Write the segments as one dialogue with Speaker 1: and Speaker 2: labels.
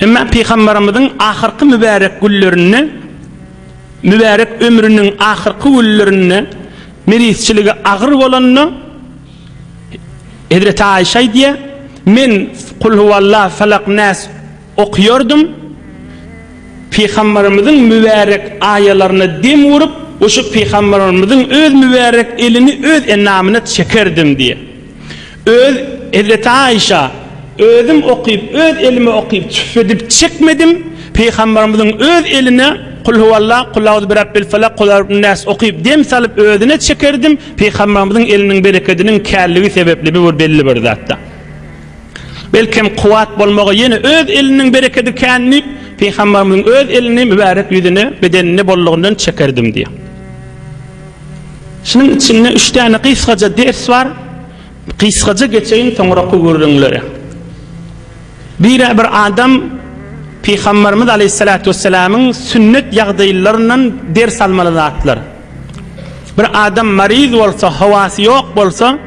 Speaker 1: Emma Pygambarymyzyň ahyrky mübärek günlerinde, mübärek ömrüniň ahyrky günlerinde mirisçiligi agyr bolanda, Hezreti Aişe aýdýar, Men Kul huwallah, Felak, Nas okýardym. Pygambarymyzyň mübärek aýalaryna dem urup, guşup Pygambarymyzyň öz mübärek elini öz enamyna çekerdim diýýär. Öz Hezreti-Aişa, Özüm okyp, öz elime okyp, tüssedip çekmedim, Pygamberimiziň öz eline Kul huwallah, Kul auzu birabbil falak, Kul auzu binnäs okyp, dem salyp özüne çekerdim, Pygamberimiziň eliniň berekediniň källigi sebepli bu bir belli bir zatda. Belkem kuwwat bolmagy ýene öz eliniň berekedi kän diýip, Pygamberimiziň öz elini mübärek ýüzüne, bedenine bollugyndan çekerdim diýýär. Şunuň içinde üç däne gysgaja ders bar. Gysgaja geçeýin soňraky gürrüňlere. Bire bir adam Pygamberimiz Aleyhissalatu vesselamyň sünnet ýagdaýlaryndan ders almaly zatlar. Bir adam maryz bolsa, howasy ýok bolsa,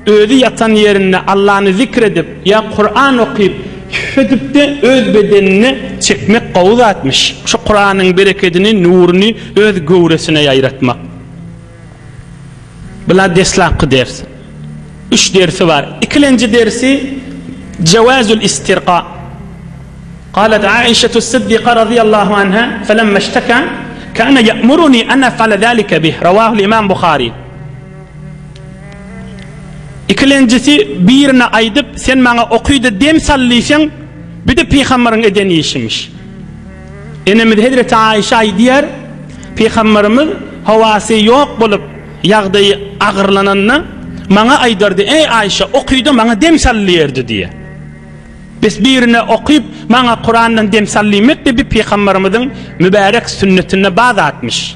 Speaker 1: Özi ýatan ýerinde Allany zikr edip ýa Kuran okyp üf edipde öz bedenine çekmek gowy zatmyş. Şu Kuranyň berekedini, nuruny öz göwresine ýaýratmak. Bula deslapky ders. Üç dersi bar. Ikilenji dersi Jawazul istirqa. Galat Aişetu Siddiqa razyýallahu anha felemma işteka kana ya'muruni an ef'ala zalika bih. Rawahul imam Buhari. Ikilenjisi birine aýdyp, sen maňa okyda dem sal diýseň, bide pygamberiň eden işimiş. Enemiz hezreti Aişe aýdýar, pygamberimiz howasy ýok bolup, ýagdaýy agyrlananda, maňa aýdardy, eý Aişe, okyda maňa dem sal diýerdi diýýär. Bes birine okyp, maňa Kurandan dem sal diýmek-de bi pygamberimiziň mübärek sünnetinde ba zatmyş.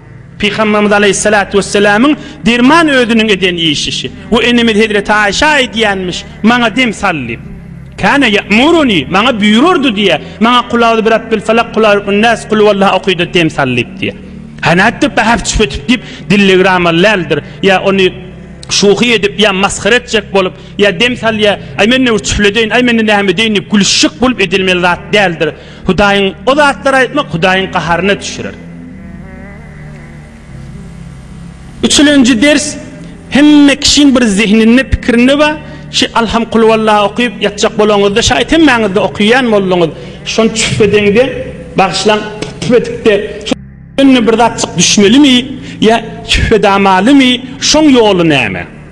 Speaker 1: Pygamberimiz Aleýhissalatu wesselamyň derman özüniň eden işişi. We enemiz Hezreti Aişa aýdýanmyş, Maňa dem sal diýip. Kana ya'muruni, maňa buýurardy diýýär. Maňa Kul auzu bi rabbil falak, Kul auzu bin nas, Kul huwallahu okyda dem sal diýip diýýär. Hanatdyr pähap çüp etip diýip dillegram alläldir. Ýa ony şuhy edip, ýa masgara etjek bolup, ýa dem salýa, aý men näme çüpledeýin, aý men näme edeýin diýip gülüşjek bolup edilmeli zat däldir. Hudaýyň o zatlary aýtmak Hudaýyň gaharyna düşürer. Üçülenji ders hemme kişiň bir zehninde pikirinde bar şi Alham kulwalla okyp ýatjak bolaňyzda şaýt hemmäňizde okyýan bolduňyz şony çüp edeňde bagyşlaň çüp edipde şo ýerine bir zatjyk düşmelimi ýa çüp edamalymy şoň ýoly näme.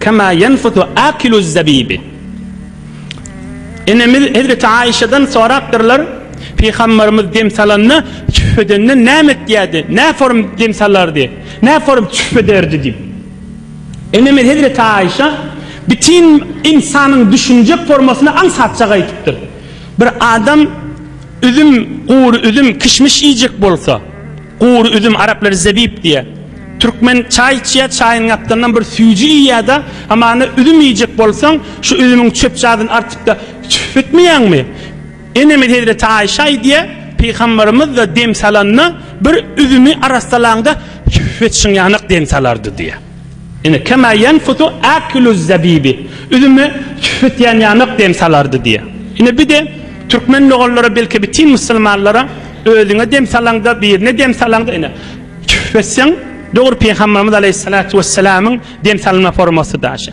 Speaker 1: Kema ýenfusu akiluz-zabibi. Enemiz hezreti Aişadan sorapdyrlar, Pygamberimiz dem salanda çüf edende näme etýärdi, nä form dem salardy, nä form çüf ederdi diýip. Enemiz hezreti Aişa bitin ynsanyň düşünjek formasyny aňsatjak aýdypdyr. Bir adam üzüm, gury üzüm, kişmiş iýjek bolsa, Gury üzüm araplar zebip diýýä. Türkmen çaý içýä, çaýyň gapdalyndan bir süýji iýýä-de, hamana üzüm iýjek bolsaň, şu üzümiň çöpçadyny artyp-da tüf etmeýäňmi? Enemiz hezreti Aýşa aýdýa, Pygamberimiz-de dem salanda, bir üzümi arassalaňda tüf etişiň ýanak dem salardy diýýä. Ine, kema ýenfusu akiluz zabibi, üzüme çüfetýän ýanak dem salardy diýýär. Ine, bir-de türkmen mogollary, belki bitin musulmanlara, özüňe dem salaňda, birine dem salaňda, ine, çüfetseň, dogry Pygamberimiz aleýhissalatu wessalamyň dem salma formasy da şa.